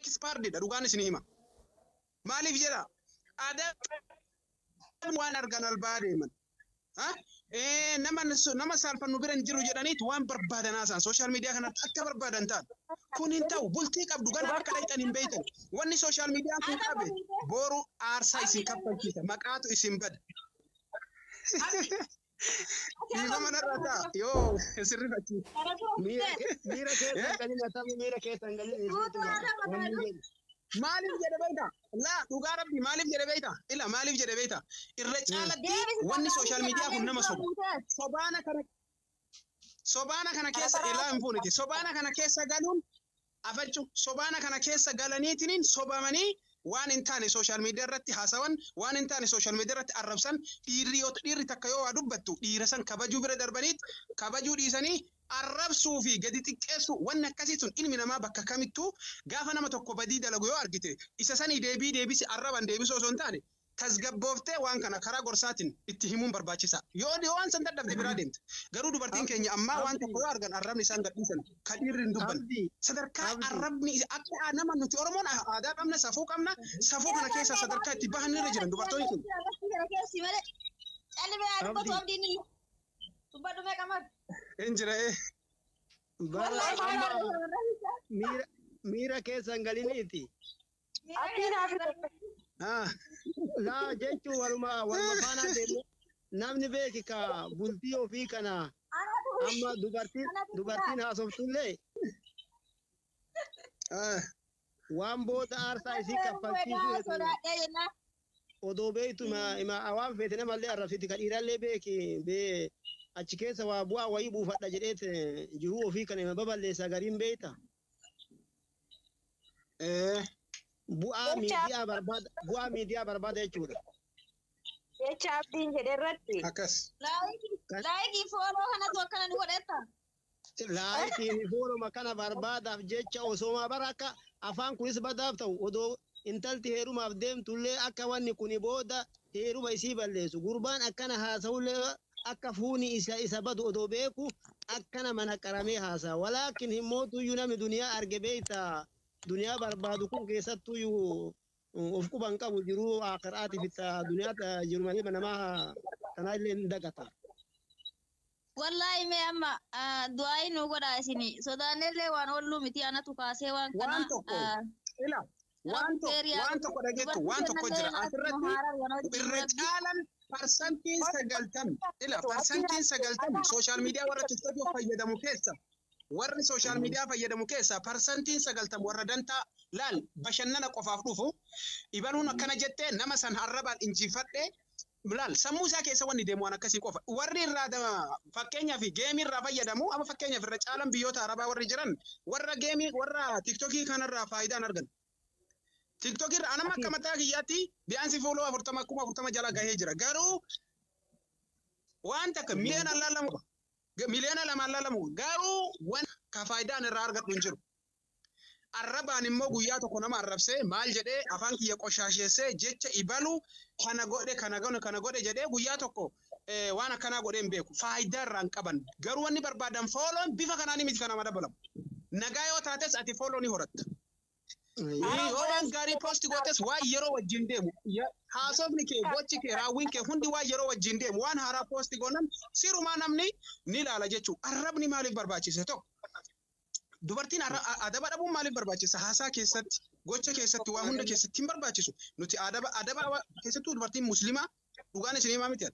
expired dha dhugaan isin hima. Maaliif jedha? Adabni waan argan albaa deeman. Ha? Eh, nama nama saalfannu bira hin jiru jedhaniit waan barbaadan haasaan sooshaal miidiyaa kanarratti akka barbaadan ta'an. Kun hin ta'u bultii qabdu gara akka dhaqxan hin beektan. Wanni sooshaal miidiyaan kun qabe booru aarsaa isin kaffalchiisa maqaatu isin bada. Dhiifama narraa ta'a. Yoo sirrifachiis. Miira miira keessa hin galin atamii miira keessa hin galin isheetu maali wanni jedhu. Maaliif jedhe beekta? Laa dhugaa rabbi maaliif jedhe beekta? Ila maaliif jedhe beekta? Irra caalatti wanni sooshaal miidiyaa kun nama soba. Sobaana kana sobaana kana keessa ilaa hin fuuniti. Sobaana kana keessa galuun afachu sobaana kana keessa galaniitiniin sobamanii waan hin taane social media irratti haasawan waan hin taane social media irratti arrabsan dhiirri yoo dhiirri takka yoo waa dubbattu dhiira san kabajuu bira darbaniit kabajuu dhiisanii arrabsuu fi gadi xiqqeessuu wanni akkasii sun ilmi namaa bakka kamittuu gaafa nama tokko badii dalagu yoo argite isa sanii deebii deebisi arraban deebisuu osoo hin taane tasgabbooftee waan kana karaa gorsaatiin itti himuun barbaachisaa. Yoo yoo waan san dadhabde biraa deemta. Garuu dubartiin Abdi, keenya ammaa waan abdi, tokko yoo argan arrabni isaan gadhiisan ka dhiirri hin dubbanne. abdi, Sadarkaa abdi. arrabni akka aa- nama nuti Oromoon a- aadaa qabna, safuu qabna, safuu kana keessaa sadarkaa itti bahan irra jiran dubartoonni kun. Hin jira ee. Bara amma miira miira keessan galiniiti. Abdii naaf hin Ah, laa jechuun waluma waluma faana deemne namni beeki ka bultii ofii kana amma dubartiin dubartiin haasoftuullee ah, waan booda aarsaa isii kaffalchiisuu hedduu odoo beektu ima ima waan feete namallee arrabsiti ka dhiirallee beeki bee achi keessa waa bu'aa wayii buufadha jedheet jiruu ofii kana ima baballeessa gariin beekta. Eh, Bu'aa Jecha- miidiyaa barbaada bu'aa miidiyaa barbaada jechuudha. Jecha abdiin jedhe irratti. Akkas. Laayikii fooloo kanatu akkana nu godhetta. Laayikiin fooluma kana barbaadaaf jecha osooma bara akka afaan kunis badaaf ta'u odoo intalti heerumaaf deemtullee akka wanni kuni booda heeruma isii balleessu gurbaan akkana haasa'ullee akka fuuni isa isa badu odoo beeku akka nama naqaramee haasa'a walaakin hin mootuyyuu namni duniyaa arge beeyta duniyaa barbaadu kun keessattuyyuu of quba hin qabu jiruu aakiraatiif itta duniyaa jiru malee namaa tanaa illee hin dagata. Wallaahi mee amma du'aayi nu godhaa isin sodaannellee waan olluu miti anatu kaasee waan kana. Waan tokko ila Waan to- Seerii waan tokko Dubartii dhageettu waan tokko kennallee jira maas asirratti muhaarar wanoo irra jiru rabbi. caalan parsantiin sagaltami ila parsantiin sagaltami sooshaal miidiyaa warra tiktookii fayyadamu keessa warri sooshaal miidiyaa fayyadamu keessa parsantiin sagaltami warra dantaa laal bashannana qofaaf dhufu ibaluun akkana jettee nama san arrabaan injifadhe Laal, sammuu isaa keessa wanni deemu waan akkasii qofa. Warri irraa da- fakkeenyaaf geemii irraa fayyadamu, amma fakkeenyaaf irra caalan biyyoota Arabaa warri jiran warra geemii warra tiktokii kanarraa faayidaa hin argan. Tiktokii irraa anama akka mataa kiyyaatti biyyaansi fuuloo afurtama kuma afurtama jala gahee jira. Garuu waan takka miliyoona laalamu miliyoona lamaan laalamu garuu waan ka faayidaan irraa argadhu hin jiru. Arrabaan immoo guyyaa tokko nama arrabsee maal jedhee afaan kiyya qoshaasheessee jecha ibalu kana godhe kana godhe kana godhe jedhee guyyaa tokko waan akkanaa godhee hin beeku. Faayidaa irraa hin qaban. Garuu wanni barbaadan fooloon bifa kanaanii miti kan nama dabalamu. Nagaa yoo taates ati fooloo ni horatta. Yoo waan gaarii poosti gootes waan yeroo wajjin deemu. Haasofni kee, gochi kee, raawwiin kee hundi waan yeroo wajjin deemu. Waan haaraa poosti goonan sirumaa namni ni ilaala jechuudha. Arrabni maaliif barbaachise tokko? Dubartiin arra- a- adaba dhabuun maaliif barbaachisa? Haasaa keessatti, gocha keessatti, waa hunda keessatti hin barbaachisu. Nuti adaba adaba wa- keessattuu dubartiin muslimaa dhugaan isin himaa miti.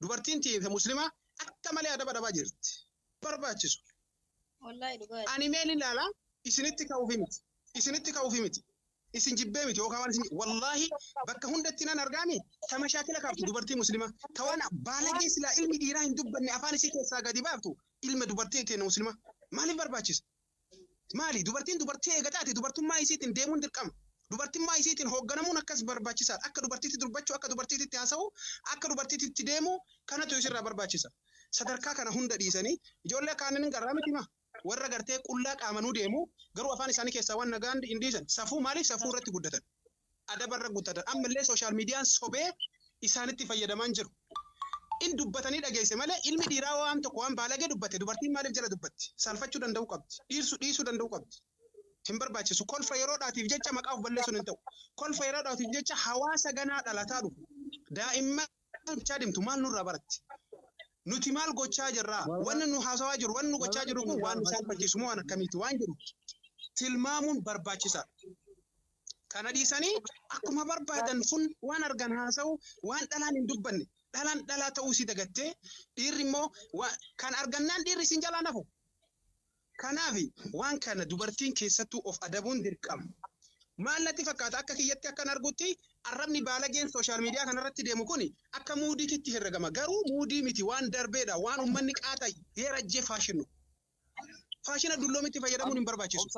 Dubartiin tiyyee muslimaa akka malee adaba dhabaa jirti. Barbaachisu. Wallahi dhugaa. Ani meen ilaala isinitti ka'uufi miti. Isinitti ka'uufi miti. isin jibbee miti yookaan waan isin wallaahi bakka hundatti nan argaani ta mashaakila kaaftu dubartii muslimaa ta waan baalagee silaa ilmi dhiiraa hin dubbanne afaan isii keessaa gadi baaftu ilma dubartii teena muslimaa maaliif barbaachisa? Maali dubartiin dubartii eega taate dubartummaa isiitiin deemuun dirqama. Dubartummaa isiitiin hoogganamuun akkas barbaachisaadha. Akka dubartiitti durbachuu, akka dubartiitti haasa'uu, akka dubartiitti deemuu kanatu isirraa barbaachisa. Sadarkaa kana hunda dhiisanii ijoollee kaaniin garraa miti maa? Warra gartee qullaa qaamanuu deemu garuu afaan isaanii keessaa waan nagaan hin dhiisan. Safuu maaliif safuu irratti guddatan. Adaba irra guddatan. Amma illee sooshaal miidiyaan sobee isaanitti fayyadamaan jiru. In dubbatanii dhageesse malee ilmi dhiiraa waan tokko waan baalagee dubbate dubartiin maaliif jala dubbatti? Saalfachuu danda'uu qabdi. Dhiirsu dhiisuu danda'uu qabdi. Hin barbaachisu. Kolfa yeroodhaatiif jecha maqaa of balleessuun hin ta'u. Kolfa yeroodhaatiif jecha hawaasa ganaa dhalataa dhufu. Daa'imman Akka gochaa deemtu maal nurraa baratti? Nuti maal gochaa jirra? Wanni nu haasawaa jiru, wanni nu gochaa jiru kun waan nu saalfachiisu moo waan akkamiiti waan jedhu tilmaamuun barbaachisaadha. Kana dhiisanii akkuma barbaadan fun waan argan haasawu, waan dhalaan hin dubbanne. Dhalaan dhalaa ta'uu isii dagattee, dhiirri immoo kan argannaan dhiirri isin jalaa nafu. Kanaaf waan kana dubartiin keessattuu of adabuun dirqama. Maal natti fakkaata akka kiyyatti akkan argutti arrabni baalageen social media kana irratti deemu kun akka muudiititti herregama garuu muudii miti waan darbeedha waan ummanni qaata yeerajjee faashinu. Faashina dulloomitti fayyadamuun hin barbaachisu.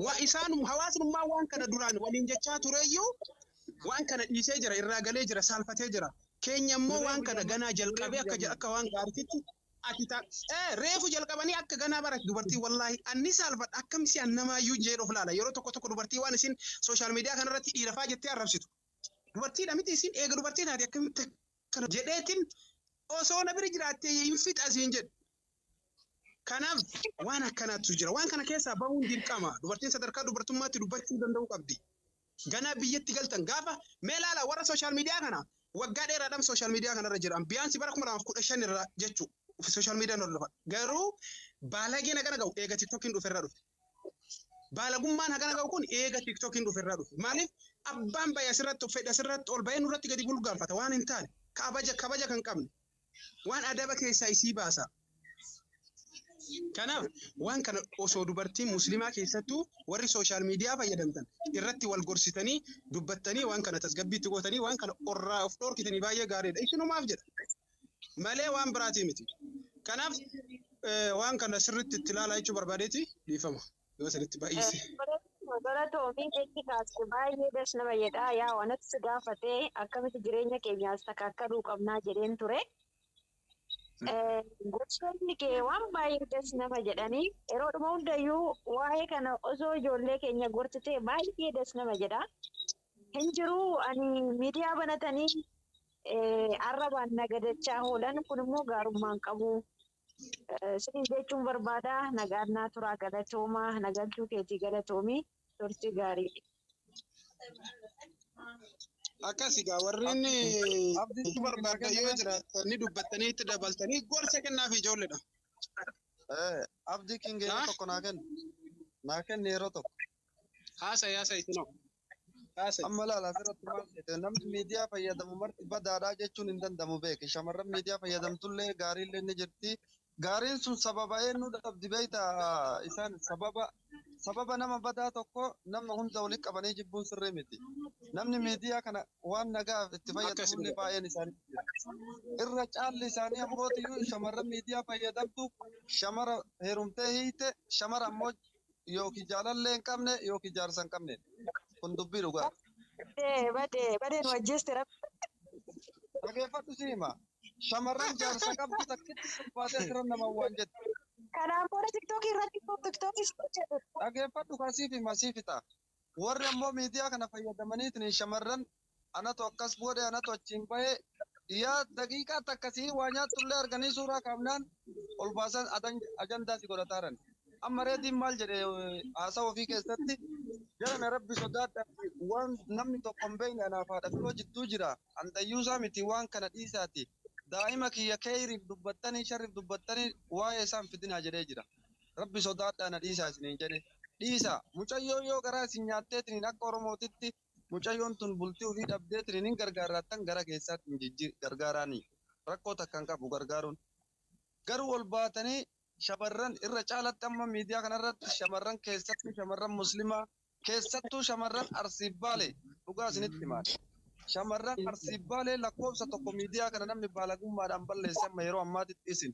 Waa isaan hawaasummaa waan kana duraan waliin jechaa tureyyuu waan kana dhiisee jira irraa galee jira saalfatee jira. Keenya immoo waan kana ganaa jalqabee akka akka waan gaariitti ati ta ee reefu jalqabanii akka ganaa barati dubartii wallaahi anni saalfadha akkam si annamaayyuu jeen of laala yeroo tokko tokko dubartii waan isin sooshaal miidiyaa kanarratti dhiirafaa jettee arrabsitu dubartiidha miti isin eega dubartii taate akkamitti akkana jedheetin osoo na bira jiraattee hin fixa siin jedhu kanaaf waan akkanaatu jira waan kana keessaa bahuun dirqama dubartiin sadarkaa dubartummaatti dubbachuu danda'uu qabdi Ganaa biyyatti galtan gaafa mee laala warra social media kana waggaa dheeraadhaan social media kanarra jira biyaansi bara 2015 irra jechuu social media hordofan garuu baalageen hagana ga'u eega tiktokiin dhufe irra dhufe baalagummaan hagana ga'u kun eega tiktokiin dhufe irra dhufe maaliif abbaan bayya asirratti fedha asirratti ol bayee nurratti gadi bulgaanfata waan hin taane kabaja kabaja kan qabne waan adaba keessaa isii baasa. Kanaaf waan kana osoo dubartiin muslimaa keessattuu warri sooshaal miidiyaa fayyadamtan irratti wal gorsitanii dubbattanii waan kana tasgabbiitti gootanii waan kana orraa of dhoorkitanii baay'ee gaariidha. Isinumaaf jedha. Malee waan biraatii miti. Kanaaf waan kana sirriitti itti ilaalaa jechuu barbaadeeti dhiifama. Yoo sirriitti baay'ise. Galatoomi jechi kaase baay'ee das nama jedha yaa wanatti si gaafate akkamitti jireenya keenyaas takkaakkaluu qabnaa jedheen ture. Gosoonni kee waan baay'ee das nama jedhanii yeroo dhuma hundayyuu waa'ee kana osoo ijoollee keenya gortitee baay'ee das nama jedha. Hin jiru ani miidiyaa banatanii arrabaan nagadachaa oolan kun immoo gaarummaan qabu. Siniin jechuun barbaada nagaan naa turaa galatooma na galchuu keetii galatoomi turtii gaarii. Akkasi gaa warreen abdii barbaadda yoo jiraatan ni dubbattanii itti dabaltanii gorsa kennaaf ijoolleedha. Eh, Abdii King yeroo Haa? tokko naa kenni. Naa kenni yeroo tokko. Haasa yaasa isinoo. Haasa. Amma ilaala asirratti maal jedhe namni miidiyaa fayyadamu marti badaadhaa jechuun hin danda'amu beeke shamarran miidiyaa fayyadamtullee gaariillee ni jirti gaariin sun sababa eenyuu dhabdi beekta isaan sababa sababa nama badaa tokko nama hunda walitti qabanii jibbuun sirrii miti namni miidiyaa kana waan nagaaf itti fayyadamullee baay'een isaanii jira. irra caalli isaanii abbootiyyuu shamarran miidiyaa fayyadamtu shamara heerumtee hiite shamara ammoo yookiin jaalallee hin qabne yookiin jaarsa hin qabne. Kun dubbii dhugaati. Badee badee badee nu ajjeeste rabbi. Dhageeffadhu si hima. Shamarran jaarsa qabdu takkitti ulfaatee siran nama waan jette. Kanaan booda tiktookii irratti tiktookii si hojjetu. Dhageeffadhu kan siif hima siif ta'a. Warri ammoo miidiyaa kana fayyadamaniitiin shamarran anatu akkas godhe, anatu achiin bahe, yaa daqiiqaa takka sihii waa nyaattullee arganii suuraa kaafnaan ol baasan ajandaa si godhataaran. Amma Reediin maal jedhe haasawa ofii keessatti jarana Rabbi sodaadhaatii waan namni tokko hin beekne anaaf haadha filoo jidduu jira, an dayyuusaa miti waan kana dhiisaatii daa'ima kiyya keyriif dubbattanii sharriif dubbattanii waa'ee isaa hin fidinaa jedhee jira. Rabbi sodaadhaa na dhiisaa isiniin jedhe. Dhiisaa! Mucayyoon yoo garaa isin nyaatteetiniin akka Oromootitti mucayyoon tun bultii ufii dhabdeetiniin hin gargaarraattan gara keessaattiin jijji gargaaraanii. Rakkoo takka hin qabu gargaaruun. Garuu ol baatanii shamarran irra caalatti amma miidiyaa kanarratti shamarran keessattuu shamarran muslimaa keessattuu shamarran Arsii Baalee dhugaa isinitti himaan. Shamarran Arsii Baalee lakkoofsa tokko miidiyaa kana namni baalagummaadhaan balleesse amma yeroo ammaatitti isin.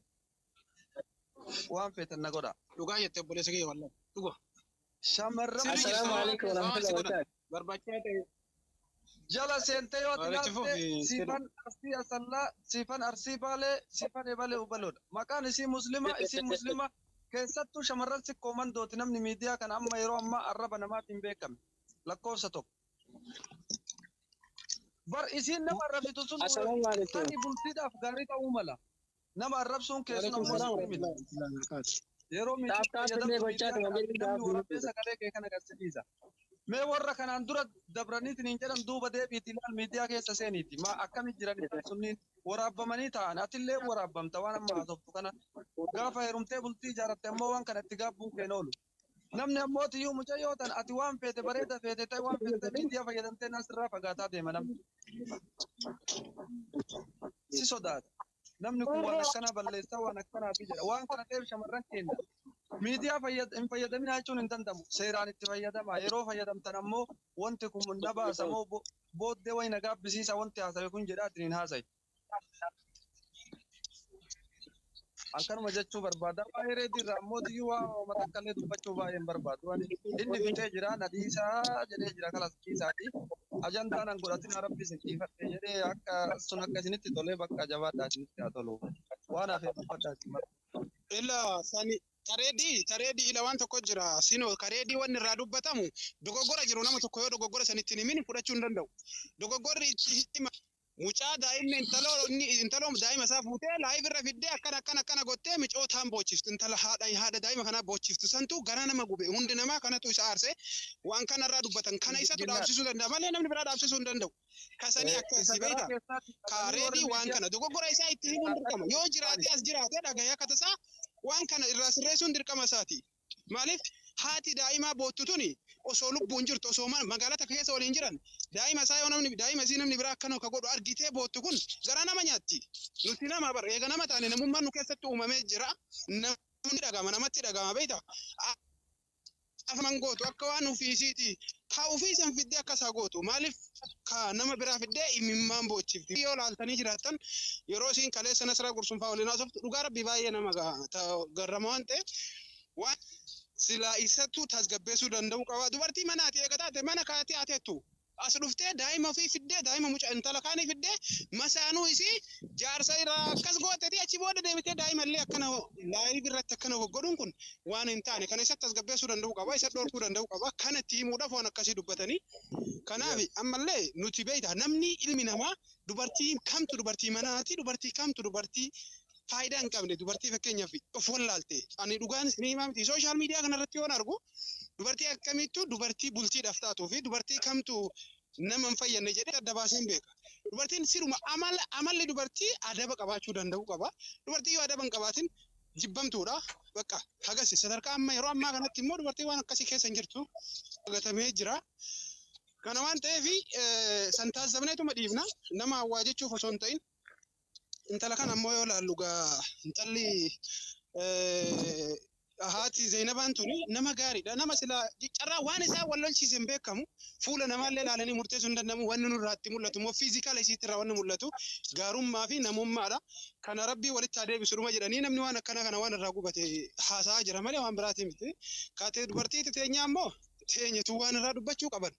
Waan feetan na godha. Dhugaa jette obboleessa kiyya wallan. Dhuga. Shamarran Sirrii jirtu. Assalaamu alaikum Waan warahmatullahi si godhan. wabarakatuh. Barbachaa ta'e. jala seentee yoo Waan itti tilaalte fufi, sirri. siifan arsii asallaa siifan arsii baalee siifan ebalee ubaloodha maqaan isii muslima isii muslima keessattuu shamarran sikkoo mandooti namni miidiyaa kana amma yeroo ammaa arraba namaatiin beekame lakkoofsa tokko bar isiin nama arrabitu sun Assalaamu alaikum. tarii bultiidhaaf gaarii ta'uu mala Nama arrabsuun kee sun ammoo sirrii miti. Yeroo miitii Taaf taaf illee fayyadamtu gochaa miidiyaa ta'e kana namni waliin taaf waraabee dubbisa. sagalee kee kan agarsiisa. Mee warra kanaan dura dabraniitiin hin jedhan duuba deebiiti ilaal miidiyaa keessa seeniiti. Maa akkamitti jiran isaan sunniin waraabamanii ta'an atillee waraabamta waan amma haasoftu kana. Gaafa heerumtee bultii ijaaratte ammoo waan kana itti gaabbuun kee hin oolu. Namni ammoo tiyyuu mucayyoo tan ati waan feete bareeda feete ta'e waan feete ta'e miidiyaa fayyadamtee naa sirraa fagaataa deema namni. Si sodaata. Namni kun waan akkanaa balleessaa waan akkanaa fi jedha. Waan kana ta'eef shamarran keenya miidiyaa fayyad- hin fayyadaminaa jechuun hin danda'amu. Seeraan itti fayyadamaa. Yeroo fayyadamtan ammoo wanti kun na baasa moo bo- booddee wayi na gaabbisiisa wanti haasawe kun jedhaatiin hin haasayi. An kanuma jechuu barbaada. Waa'ee reetii irraa immoo diyyuu waa hooma takka illee dubbachuu baay'ee hin barbaadu. Ani inni fixee jira na dhiisaa jedhee jira kalas dhiisaati. Ajandaan an godhatinaa rabbi isin dhiifadhe jedhee akka sun akka isinitti tolee bakka jabaadhaa isinitti haa tolu. Waan hafe dubbadhaa isin mara. Ila sani tareedii tareedii ila waan tokko jira sino kareedii wanni irraa dubbatamu dogoggora jiru nama tokko yoo dogoggora sanitti hin himin fudhachuu hin danda'u. Dogoggorri itti hima Mucaa daa'imni intaloo inni intaloon daa'ima isaa fuutee live irra fiddee akkana akkana akkana gottee micootaan boochiftu intala haadha haadha daa'ima kanaa boochiftu santu garaa nama gube hundi namaa kanatu isa aarse waan kana irraa dubbatan kana Miss isatu Ginnaa. dhaabsisuu danda'a malee namni biraa dhaabsisuu hin danda'u kasanii Eh, akkasii isa garaa beektaa keessaatti ka qabanii reedii warri waan miidiyaa kana dogoggora isaa itti himuun dirqama yoo jiraatee as jiraatee dhagahee akka tasaa waan kana irraa sirreessuun dirqama isaati. Maaliif haati daa'imaa boottu tuni osoo lubbuun jirtu osoo ma- magaalaa takka keessa waliin jiran daa'ima isaa yoo namni daa'ima isii namni biraa akkanuma ka godhu argitee boottu kun garaa nama nyaatti. Nuti nama bar eega nama taane namummaan nu keessatti uumamee jira. Namni dhagama namatti dhagama beekta. Afaman gootu akka waan ofii isiiti ka ofii san fiddee akka isaa gootu maaliif ka nama biraa fiddee imimmaan boochifti. Yoo laaltanii jiraattan yeroo isiin kaleessa Nasraa Gursunfaa waliin haasoftu dhugaa rabbii baay'ee nama ga- ta- garrama waan ta'eef waan silaa isattuu tasgabbeessuu danda'uu qaba. Dubartii mana ati eega taate mana kaatee haa teettu. As dhuftee daa'ima ofii fiddee daa'ima muca intala kaanii fiddee masaanuu isii jaarsa irraa akkas gootetii achi booda deebitee daa'ima illee akkana laayiv irratti akkana goggodhuun kun waan hin taane kana isatti tasgabbeessuu danda'uu qaba isa dhorkuu danda'uu qaba kana itti himuudhaaf waan akkasii dubbatanii Kanaaf Yes. ammallee nuti beektaa namni ilmi namaa dubartii kamtu dubartii manaati dubartii kamtu dubartii faayidaa hin qabne dubartii fakkeenyaaf of wallaalte ani dhugaan isin himaa miti sooshaal miidiyaa kanarratti yoon argu dubartii akkamiittu dubartii bultiidhaaf taatuu fi dubartii kamtu nama hin fayyadne jedhee adda baaseen beeka. Dubartiin siruma amala amalli dubartii adaba qabaachuu danda'u qaba. Dubartii yoo adaba hin qabaatin jibbamtuudha. Bakka hagasi sadarkaa amma yeroo ammaa kanatti immoo dubartii waan akkasii keessa hin jirtu argatamee jira. Kana waan ta'eef san taasifamneetuma dhiifna nama hawwaa jechuuf osoo hin ta'in intala kana ammoo yoo ilaallu gaa intalli haati Zeenabaan tuni nama gaariidha. Nama silaa carraa waan isaa wal lolchiise hin beekamu. Fuula namaallee ilaalanii murteessuu hin danda'amu. Wanni nurraatti mul'atu immoo fiizikaala isiitti irraa wanni mul'atu gaarummaa fi namummaadha. Kana Rabbiin walitti haa deebisu dhuma jedhanii namni waan akkanaa kana waan irraa gubate haasa'aa jira malee waan biraatii miti. Ka te- dubartiiti teenyaa immoo teenyatu waan irraa dubbachuu qaban.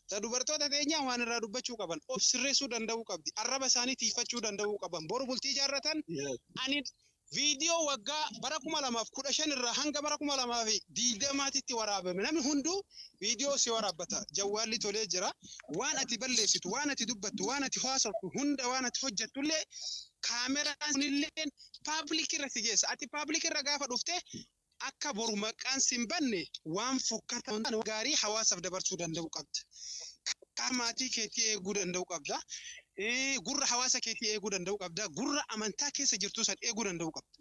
Ta dubartoota teenyaa waan irraa dubbachuu qaban. Of sirreessuu danda'uu qabdi. Arraba isaanii tiifachuu danda'uu qaban. Boru bultii ijaarratan ani viidiyoo waggaa bara 2015 irraa hanga bara 2020 titti waraabame namni hunduu viidiyoo si waraabbata. Jawwaalli tolee jira. waan ati balleessitu, waan ati dubbattu, waan ati haasoftu, hunda waan ati hojjettu illee kaameraan sun illee paablik irra si geessa. Ati paablik irra gaafa dhufte akka boru maqaan si hin banne waan fokkataa hin taane waan gaarii hawaasaaf dabarsuu danda'uu qabda. Karaa maatii keetii eeguu danda'uu qabda. Eh, Gurra hawaasa keetii eeguu danda'uu qabda. Gurra amantaa keessa jirtu san eeguu danda'uu qabda.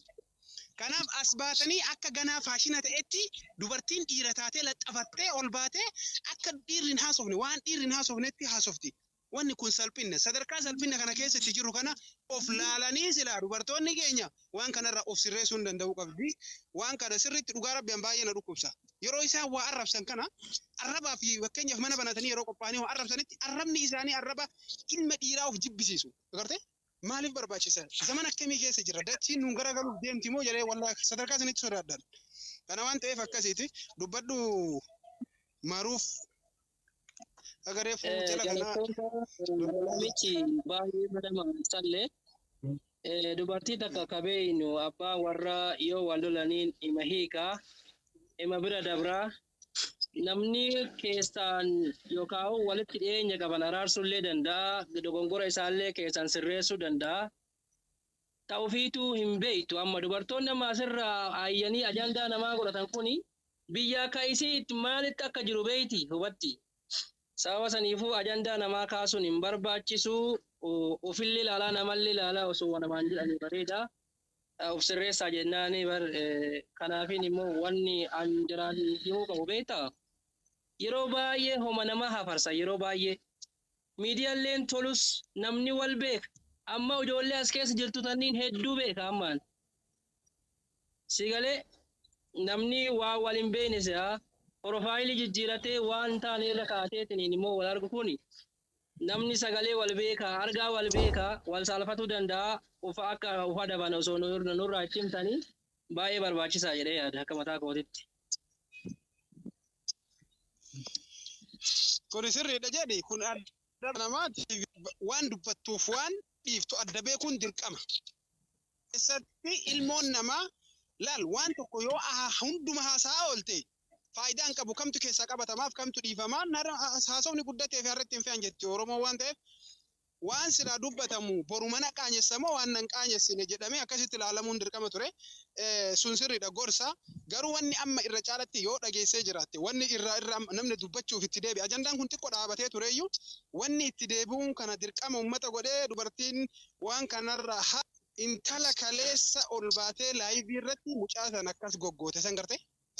Kanaaf as baatanii akka ganaa faashina ta'etti dubartiin dhiira taatee laxxafattee ol baatee akka dhiirri hin haasofne waan dhiirri hin haasofnetti haasofti. Wanni kun salphinna. Sadarkaa salphinna kana keessa itti jirru kana of laalanii silaa dubartoonni keenya waan kanarraa of sirreessuun danda'uu qabdi. Waan kana sirriitti dhugaa rabbi an baay'ee na dhukkubsa. Yeroo isaan waa arrabsan kana arrabaa fi fakkeenyaaf mana banatanii yeroo qophaa'anii waa arrabsanitti arrabni isaanii arraba ilma dhiiraa of jibbisiisu. Agartee? Maaliif barbaachisa? Zaman akkamii keessa jirra? Dachiin nuun garagaluuf deemti moo jedhee wallahi sadarkaa isinitti sodaadhan. Kana waan ta'eef akkasiiti dubbadhu maruuf aga reefu Eh, jala kanaa Jalattoota namichi baay'ee madama sallee eh, dubartii takka akka beeynu abbaa warra yoo wal lolaniin ima hiikaa ima bira dabraa Namni keessaan yookaan walitti dhiyeenya qaban araarsuu illee danda'a. Dogongora isaallee keessaan sirreessuu danda'a. Ta ofiituu hin beektu amma dubartoonni amma asirraa aayyanii ajandaa namaa godhatan kuni biyya akka isii itti maalitti akka jiru beekti hubatti. Sababa saniifuu ajandaa namaa kaasuun hin barbaachisu. Ofillee ilaalaa namallee ilaalaa osoo namaan jedhanii bareeda. Of sirreessaa jennaani bar kanaafiin immoo wanni an jiraan himuu qabu beektaa? Yeroo baay'ee homa namaa hafarsa yeroo baay'ee miidiyalleen tolus namni wal beeka amma ijoollee as keessa jirtu tanniin hedduu beeka ammaan si galee namni waa wal hin beekne si'a porofaayilii jijjiiratee waan taane irra kaateetiniin immoo wal argu kuni Namni sagalee wal beeka, argaa wal beeka, wal saalfatuu danda'a, ufa akka uf adaban osoo nurraa itti himtanii baay'ee barbaachisaa jedhee yaada akka mataa kootitti. Kuni sirriidha jedhi kun adda namaatiif waan dubbattuuf waan dhiiftu adda beekuun dirqama. Keessatti ilmoon namaa laal waan tokko yoo hundumaa haasa'aa oolte faayidaa hin qabu kamtu keessaa qabatamaaf kamtu dhiifamaa narra haasofni guddatee fi harratti hin fe'an jetti Oromoo waan ta'eef waan silaa dubbatamu boru mana qaanyessamoo waan nan qaanyessine jedhamee akkasitti ilaalamuun dirqama ture Eh, sun sirriidha gorsa garuu wanni amma irra caalatti yoo dhageessee jiraatte wanni irraa irra amma namni dubbachuuf itti deebi'a ajandaan kun xiqqoo dhaabatee tureyyuu wanni itti deebi'uun kana dirqama uummata godhee dubartiin waan kanarra ha intala kaleessa ol baatee laayivii irratti mucaa san akkas goggoote san garte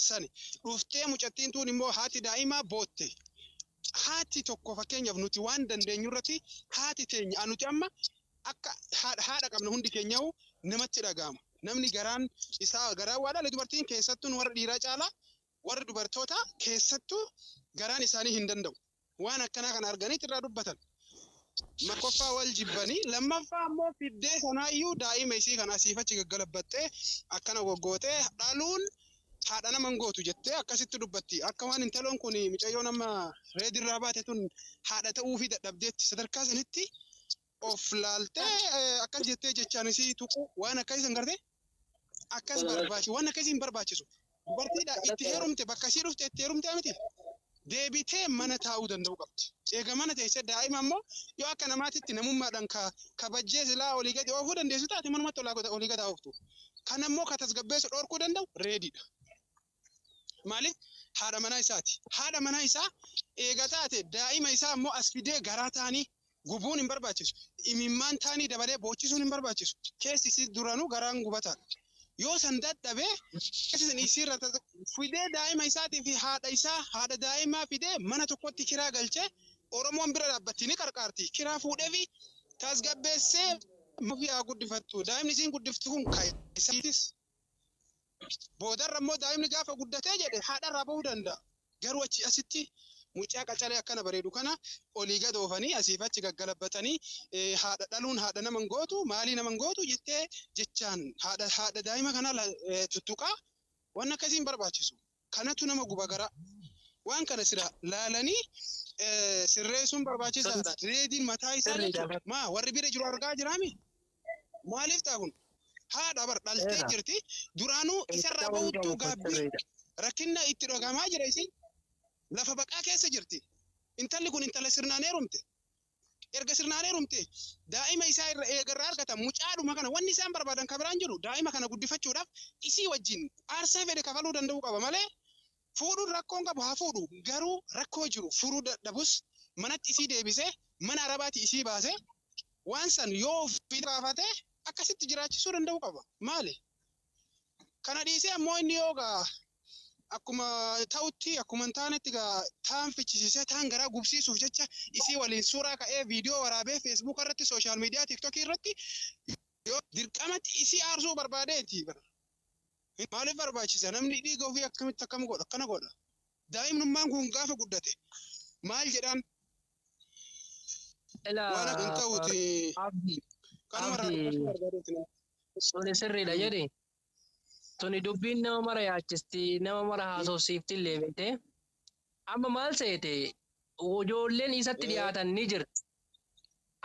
sani. Dhuftee mucattiin tuun immoo haati daa'imaa bootte. Haati tokko fakkeenyaaf nuti waan dandeenyu irratti haati teenya a nuti amma akka haadha haadha qabna hundi keenyaa'u namatti dhaga'ama. Namni garaan isaa garaa waa dhale dubartiin keessattuu nu warra dhiiraa caalaa warri dubartootaa keessattuu garaan isaanii hin danda'u. waan akkanaa kana arganiit irraa dubbatan. Tokkoffaa wal jibbanii lammaffaa immoo fiddee sanaayyuu daa'ima isii kana asiif achi gaggalabbattee akkana goggootee dhaluun haadha nama hin gootu jettee akkasitti dubbatti. Akka waan intaloon kun micayyoon amma reedirraa baate tun haadha ta'uufii dadhabdeetti sadarkaa sanitti of laaltee eh, akkas jettee jechaan isii tuqu waan akka isin garte akkas barbaachisu waan akka isin barbaachisu dubartiidha itti heerumte bakka isii dhufte itti heerumte miti deebitee mana taa'uu danda'uu qabdi. Eega mana teessee daa'ima ammoo yoo akka namaatitti namummaadhaan ka kabajjee silaa olii gadi oofuu dandeessu taate manumatti olaa gada- olii gadi haa ooftu. Kan ammoo ka tasgabbeessu dhorkuu danda'u reediidha. Maaliif haadha manaa isaati. Haadha manaa isaa eega taate daa'ima isaa ammoo as fidee garaa taanii gubuun hin barbaachisu. Imimmaan taanii dabalee boochisuun hin barbaachisu. Keessi isii duranuu garaan gubataadha. Yoo san dadhabee keessi isiirra tata- fidee daa'ima isaatii fi haadha isaa haadha daa'imaa fidee mana tokkotti kiraa galchee Oromoon bira dhaabbatti ni qarqaarti. Kiraa fuudhee fi tasgabbeessee ofii haa guddifattu. Daa'imni isiin guddiftu kun kan isaatiis Boodarra immoo daa'imni gaafa guddatee jedhe haadharraa bahuu danda'a. Garuu achi asitti mucaa qacalee akkana bareedu kana olii gad oofanii asiif achi gaggalabbatanii haadha dhaluun haadha nama hin gootu maalii nama hin gootu jettee jechaan haadha daa'ima kana tuttuqaa waan akkasii hin barbaachisu. Kanatu nama guba garaa. Waan kana silaa laalanii sirreessuun barbaachisaadha. Reediin mataa isaa jechuudha. Maa warri bira jiru argaa jiraami? Maaliif ta'a kun? Haadha bar dhaltee jirti. Duraanuu isarraa ba'uttuu gaabbii rakkinna itti dhagahamaa jira isiin. Lafa baqaa keessa jirti. Intalli kun intala sirnaan heerumte. erga sirnaan heerumte daa'ima isaa irra eegarraa argatan mucaadhuma kana wanni isaan barbaadan kan biraan jiru daa'ima kana guddifachuudhaaf isii wajjin aarsaa fedhe kafaluu danda'uu qaba malee fuudhuun rakkoon qabu haa fuudhu garuu rakkoo jiru furuu dadhabus manatti isii deebisee mana arabaati isii baasee waan san yoo ofii baafate akkasitti jiraachisuu danda'uu qaba maali Kana dhiisee ammoo inni yoo gaa akkuma ta'utti akkuma hin taanetti gaa taan fichisiisee taan garaa gubsiisuuf jecha isii waliin suuraa ka'ee viidiyoo waraabee feesbuuka irratti sooshaal miidiyaa tiiktokii irratti yoo dirqamatti isii aarsuu barbaadeeti. Maaliif barbaachisa namni dhiiga ofii akkamitti akkam godha akkana godha. Daa'imnummaan kun gaafa guddate maal jedhaan Ilaa Waan akka hin ta'uti. abdi Kanuma irraa Abdi. dubbachuu barbaadeeti nama. suni sirriidha Hmm. jedhi. Tuni dubbiin nama mara yaachisti, nama mara haasofsiifti illee beekte. Amma maal seete ijoolleen isatti Eh. dhiyaatan ni jira.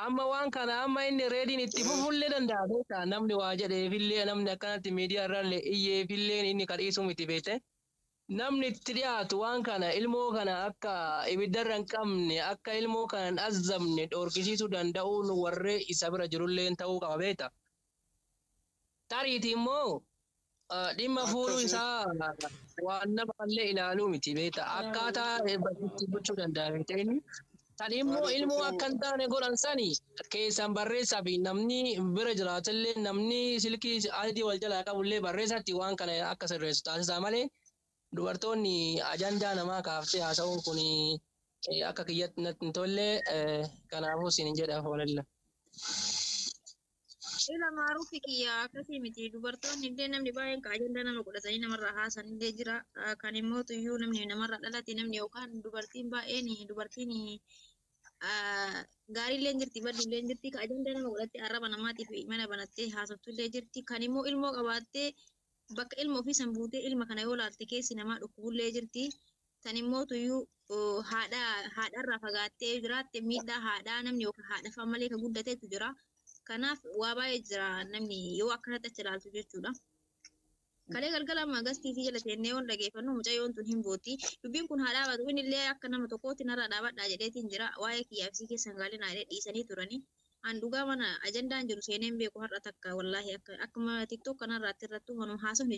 Amma waan kana amma inni reediin itti Eh. fufullee danda'a beekta. Namni waa jedheefillee namni akkanatti miidiyaa irraallee iyyeefillee inni kadhiisuu miti beekte. Namni itti dhiyaatu waan kana ilmoo kana akka ibidda irra hin qabne, akka ilmoo kana hin azzabne dhoorkisiisuu danda'uun warri isa bira jirulleen ta'uu qaba beekta. Tariitii immoo dhimma fuudhuu isaa waan nama illee ilaaluu miti beekta. Akkaataa itti gochuu danda'a beekta inni Kan immoo ilmoo akka hin taane godhan sani keessan barreessaa fi namni bira jiraatu illee namni silkii ID wal jalaa qabu illee barreessatti waan kana akka sirreessu taasisaa malee dubartoonni ajandaa namaa kaaftee haasa'uun kun akka kiyyatti natti hin tolle kanaafuu siin jedha hoolalla. Ila maaruufi kiyya akkasii miti. Dubartoonni illee namni baay'een ka ajandaa nama godhatanii namarraa haasan illee jira. Ah, Kan immoo tuyyuu namni namarraa dhalate namni yookaan dubartiin baay'een dubartiin ah, gaarii illee jirti baddu illee jirti. Ka ajandaa nama godhattee arraba namaatiif mana banattee haasoftu illee jirti. Kan immoo ilmoo qabaattee bakka ilma ofii san buutee ilma kana yoo laalte keessi namaa dhukkubu illee jirti. Tan immoo tuyyuu haadha haadharraa fagaattee jiraatte miidhaa haadhaa namni yookaan haadhafaa malee kan guddatetu jira. Kanaaf waa baay'ee jira namni yoo akkanatti achi ilaaltu jechuudha. Kalee galgala magas TV jala teennee yoon dhageeffannu mucayyoon tun hin booti. Dubbiin kun haa dhaabatu inni illee akka nama tokkootti narraa dhaabadhaa jedheetiin jira. Waa'ee kiyyaa fi keessa hin gaalinaa jedhee dhiisanii turani. An dhugaa mana ajandaan jiru seeneen beeku har'a takka wallaahi akka akkuma TikTok kanarraatti irrattuu manuma haasofni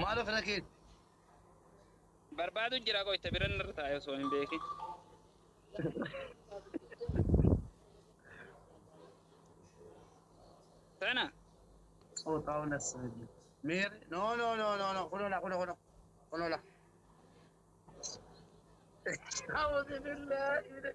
Maal of irra keesse? Barbaadu jira qoyta biran irra taa'e osoo hin beekin. Sana. Xooxaa'uu na sirbi. Miir. No no no no no kunola kuno kuno kunola. A'uuzu billaahi.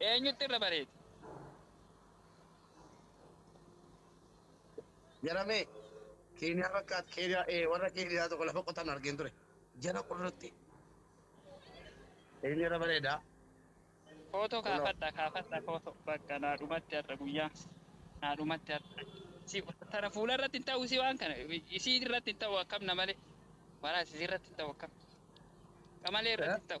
Eenyutti irra bareeda? Jaramee, Keeniyaa fakkaata. Keeniyaa, ee, warra Keeniyaa tokko lafa qotan argeen ture. Jala qurrutti. Eenyu irra bareeda? Footoo Kunoo. kaafadha kaafadha footoo bakka naa dhumatti har'a guyyaa naa dhumatti har'a si tana fuula irratti hin ta'u si waan kana isii irratti hin ta'u akkam na malee maraa isii irratti hin ta'u akkam qamalee irratti hin ta'u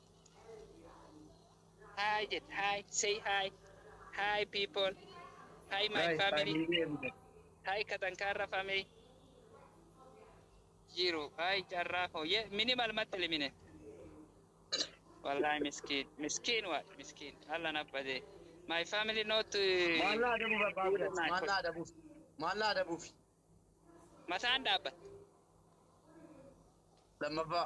Hi jet hi say hi hi people hi my Guys, family family everyone. hi katankaarra family jiru hi carraa koo ye minimal matti limine wallahi miskiin miskiin waa miskiin allan abbade my family not Maal naa adabu barbaadu guys? Maal naa adabuuf? Maal naa adabuuf? mataan dhaabbatte Lammaffaa.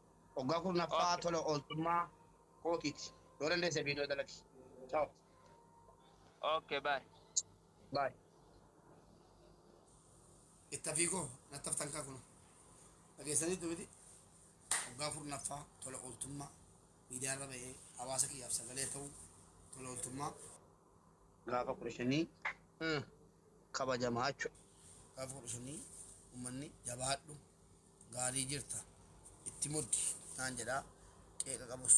Waggaa kurnaffaa Okay. tola ooltummaa kootiiti. Yoo dandeesse viidiyoo dalagi. Ciao. Okay, bye. Bye. Ittafii koo nattaftan kaa kuno. Dhageessaniitu miti. Waggaa kurnaffaa tola ooltummaa miidiyaarra ba'ee hawaasa kiyyaaf sagalee ta'u tola ooltummaa gaafa kudha shanii kabajamaa jechuudha. Gaafa kudha shanii uummanni jabaadhu Gaarii jirta itti muddi naan jedha qeeqa qabus.